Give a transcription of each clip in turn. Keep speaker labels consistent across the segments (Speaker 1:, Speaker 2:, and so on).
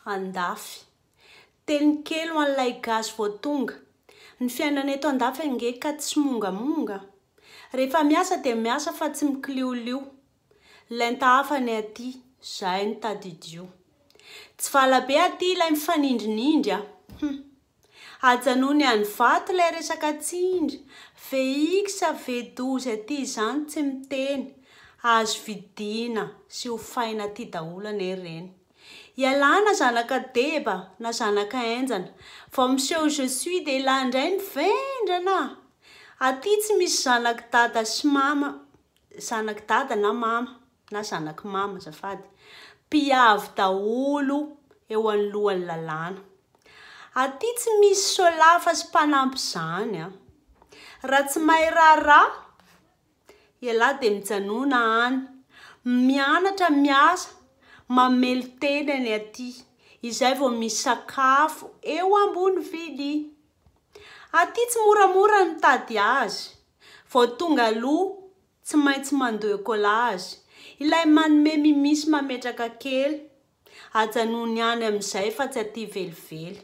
Speaker 1: andafy. Teny kely ho an'ilay gasy vao tonga. Ny fiainana eto andafy ange ka tsy mongamonga. Rehefa miasa dia miasa fa tsy mikiliolio. Lenta hafa ny aty, zay no tadidio. Tsy valabe aty ilay mifanindrinindry a! Hum. Ajanony any vato lay resaka tsindry, VX, V12 aty izany tsy miteny, azo vidiana sy hofaina aty daholo anie reny. Ialana zanaka deba na zanaka enjana, vao miseho je suis dia ilay indray ny vendrana! Aty tsy misy zanak'i dada sy mama, zanak'i dada na mama. na zanak'i mama azafady, mpiavy daholo eo anoloan'ny lalàna. Aty tsy misy solafa sy mpanampy izany an! Raha tsy mahay raharaha, ialahy dia mijanona any, mianatra, miasa, mamely tenany aty, izay vao misy sakafo eo ambony vilia. Aty tsy moramora ny mitady azy, vao tonga aloha, Tsy maintsy mandoe collage. Ilay manome mimi sy mametraka kely. Ajanony any amin'izay fa tsy aty velively.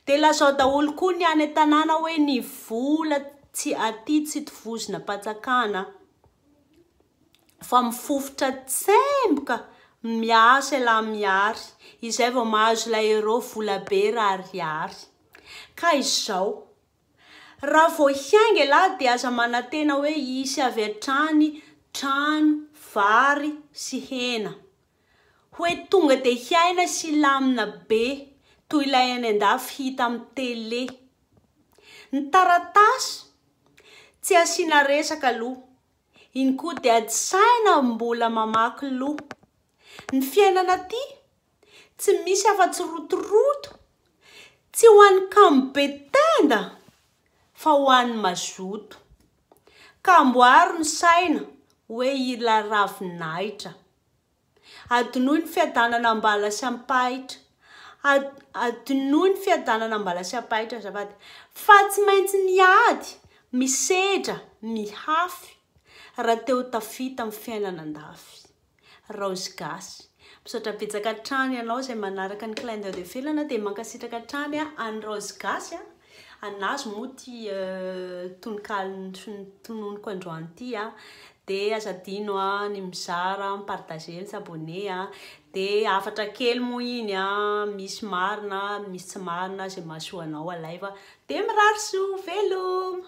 Speaker 1: Dia lazao daholo koa ny any an-tanàna hoe ny vola tsy aty tsy tovozina am-pantsakana fa mifofotra tsemboka miasa elah miary izay vao mahazo ilay euro volabe rarihary. Ka izao. Raha vao hiainga ialahy dia aza manantena hoe hisy avy hatrany trano, vary sy hena. Hoe tonga dia hiaina sy hilamina be toy ilay any andafy hita amin'ny télé. Ny taratasy tsy asiana resaka aloha. Iny koa dia ady saina mbola mamaky loha. Ny fiainana aty Tsy misy afa-tsy rotoroto, tsy ho an'ny kamo be tenda fa ho an'ny mazoto. Ka amboaro ny saina hoe ila ravin'ahitra. Adinoy ny fiadanana am-bala sy am-pahitra, adinoy ny fiadanana am-bala sy am-pahitra azafady, fa tsy maintsy miady, misedra, mihafy, raha te ho tafita amin'ny fiainana an-dafy. Raozy gasy. Misaotra betsaka hatrany anao izay manaraka ny clin d'oeil de felana dia mankasitraka hatrany an'i Raozy gasy a! Anazy moa ity tononkalo tononiko androany ity a! Dia aza adino a ny mizara, mi-partager, mi-s'abonner a! Dia hafatra kely moa iny a! Misy marina, misy tsy marina, izay mahasoa anao alaivo a! Dia mirary soa, veloma!